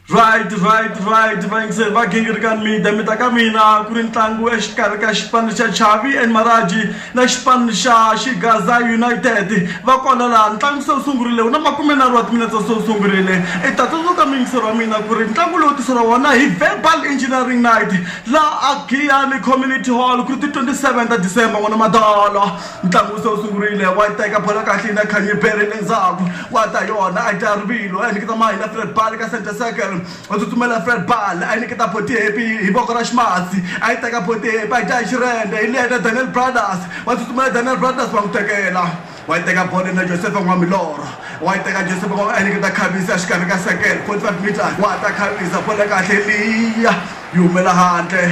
right right right vayingiseri va gingirikani mida mi ta ka mina ku ri ntlangu exikarhi ka xipano xa chavi and maraji na xipano xa xigaza united va kona laha ntlangu se wu sungurile wu na makume nharhu wa timinetse se wu sungurile i ta tsundzuka miyingiseri wa mina ku ri ntlangu lowu tiseriwa wona hi verbal engineering night laha a giyani community hall ku ri ti 27 ta december n'wana madolo ntlangu se wu sungurile wa yi teka bola kahle yi na khanye bere le ndzhaku wa ta yona a yi ta rivilo a yi niketa mahi na fred bal ka center circle u tsutsumela fred bal a yi niketa boti hepi hi voko ra ximatsi a yi teka boti hepi a yi ta hi xirende hi leta daniel brothers wa tsutsumela daniel brothers wa n'wi tekela wa yi teka bolo na joseph n'wa milorho wa yi teka joseph n'wa a yi niketa khavisa exikarhi ka circle 45 meters wa ta khavisa bolo kahle liya yi humela handle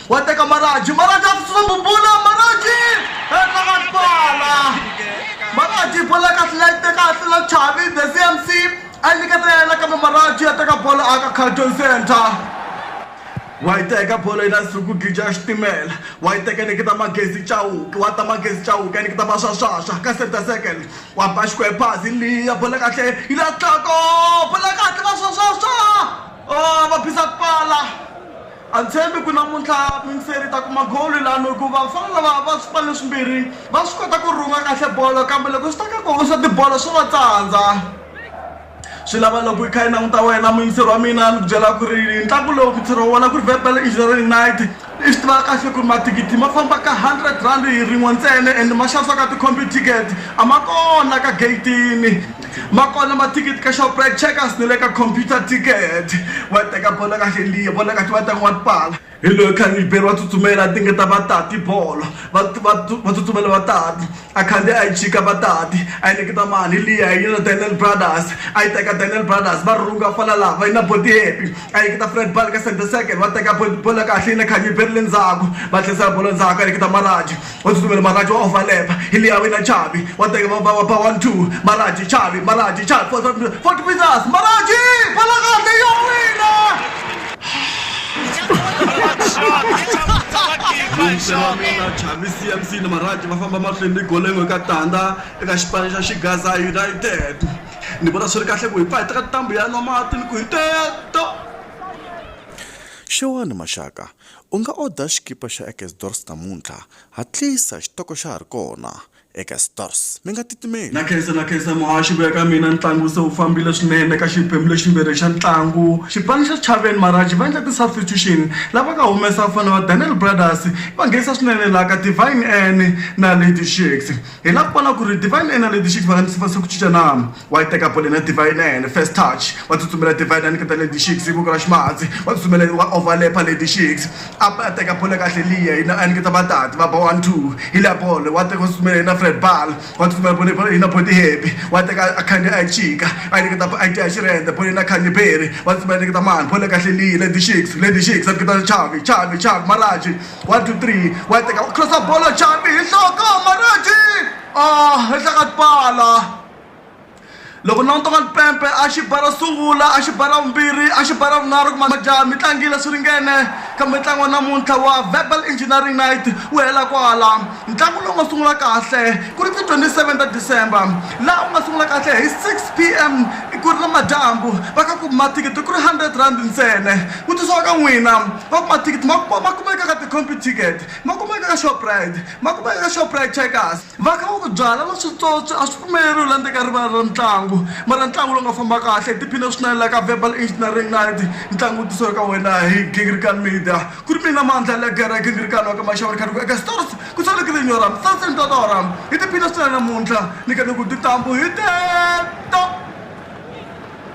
Wateka Maraji, Maraji atsutsuma bubula, Maraji! Endla ka twala! Maraji bola kahle la yi teka kahle la Chavi, the CMC, a yi nyiketa yena kambe Maraji ya teka bola aka Carlton Center. Wa yi teka bola yi la Suku Gija ya xitimela, wa yi teka nyiketa Magezi Chauke, wa ta Magezi Chauke ya nyiketa Maswaswaswa ka center circle, wa ba xikwembu pasi liya bola kahle yi la tlhako, bola kahle Maswaswaswa! Oh, va phisa pala! A tshembi ku namuntlha Mintseri yi ta kuma golu lanu hikuva vafana lava va swipanu leswimbirhi va swi kota ku rhunga kahle bolo kambe loko swi ta ka ku hoxa tibolo swa va tsandza. Swi lava loko yi kha yi languta wena muyingiseri wa mina ni ku byela ku ri ntlangu lowu mintseri wa wona ku ri Verbal Engineering Night i swi tiva kahle ku ri mathikithi ma famba ka hundred rand hi rin'we ntsena and ma xavisiwa ka ti-computicket a ma kona ka gate-ini. ma kona mathikithi ka shoprite checkers ni le ka computer ticket wa teka bolo ka xeliya bolo ka xiva tanga wa tipala hi loyi khaniliberi wa tsutsumela a tingeta vatati bolo va tsutsumela vatati a khandziya a yi chika vatati a yi nikita mali liya yi na daniel brothers a yi teka daniel brothers va rhunga fana laha va yi na boti happy a yi nikita fred bal ka center second va teka bolo kahle yi na khaniliberi le ndzhaku va tlhisela bolo ndzhaku a yi nikita maraji wa tsutsumela maraji wa overlap hi leya wena chavi wa teka va va va one two maraji chavi maraji chavi for forty meters maraji bala kahle ya wina lunghisela mina chavi cmc ni maraji va famba mahlweni ni golengo eka tanda eka xipano xa xigaza united ni vona swi ri kahle ku hi pfa hi teka ntambu ya nwa mati ni ku hi teto xewani maxaka U nga oda xikipa xa eka Stores namuntlha. Hatlisa, xitoko xa ha ri kona. Eka Stores. Mi nga titimeli. Na khensa, na khensa muhaxi ku ya ka mina ntlangu se wu fambile swinene eka xiphemu leximbirhi xa ntlangu. Xipano xa Sichaveni Marange va endle ti substitution la va nga humesa vafana va Daniel Brothers va nghenisa swinene la ka Divine Anne na Lady Shakes. Hi la ku vona ku ri divine ina leti xi va ndzi va se ku cinca na wa yi teka bolo na divine ene first touch wa tsutsumela divine a nyiketa lady shakes ku kala ximatsi wa tsutsumela wa overlap lady shakes a a teka bolo kahle liya yina a nyiketa vatati va ba one two hi la bolo wa teka tsutsumela yina fred ball wa tsutsumela bolo bolo yina body happy wa teka a khandi a chika a nyiketa a dya xirhendze bolo yina khandi berry wa tsutsumela nyiketa mani bolo kahle liya lady shakes lady shakes a nyiketa chavi chavi chavi maraji One, two, three. Wa teka wa crossa bolo chambi hi nhloko Marati. Ah, henhla ka tipala. Loko languta ka tipempe a xi bara sungula a xi bara vumbirhi a xi bara vunharhu kuma majaha mi tlangile swi ringene kambe ntlangu wa namuntlha wa verbal engineering night wu hela kwala ntlangu lowu nga sungula kahle ku ri ti 27 ta december laha wu nga sungula kahle hi 6 p m ku ri na madyambu va ka ku mathikithi ku ri 100 rand ntsena ku tisiwa ka n'wina Van'waticket ma kuma ma kumeka ka ti-compu ticket ma kumeka ka Shoprite ma kumeka ka Shoprite Checkers va kha va ku byala na switswotswi a swi pfumeleriwi la ndzeni ka rivala ra ntlangu mara ntlangu lowu nga famba kahle hi tiphine swinene la ka Verbal Engineering Night ntlangu wu tisiwe ka wena hi Gingrikan Media ku ri mina Mandla Legere Gingrikan wa ka Maxavu ni kha ni ku eka Stars ku sale ku ri nyora misase ni tata wa ram hi tiphine swinene namuntlha ni kha ni ku tintambu hi teto.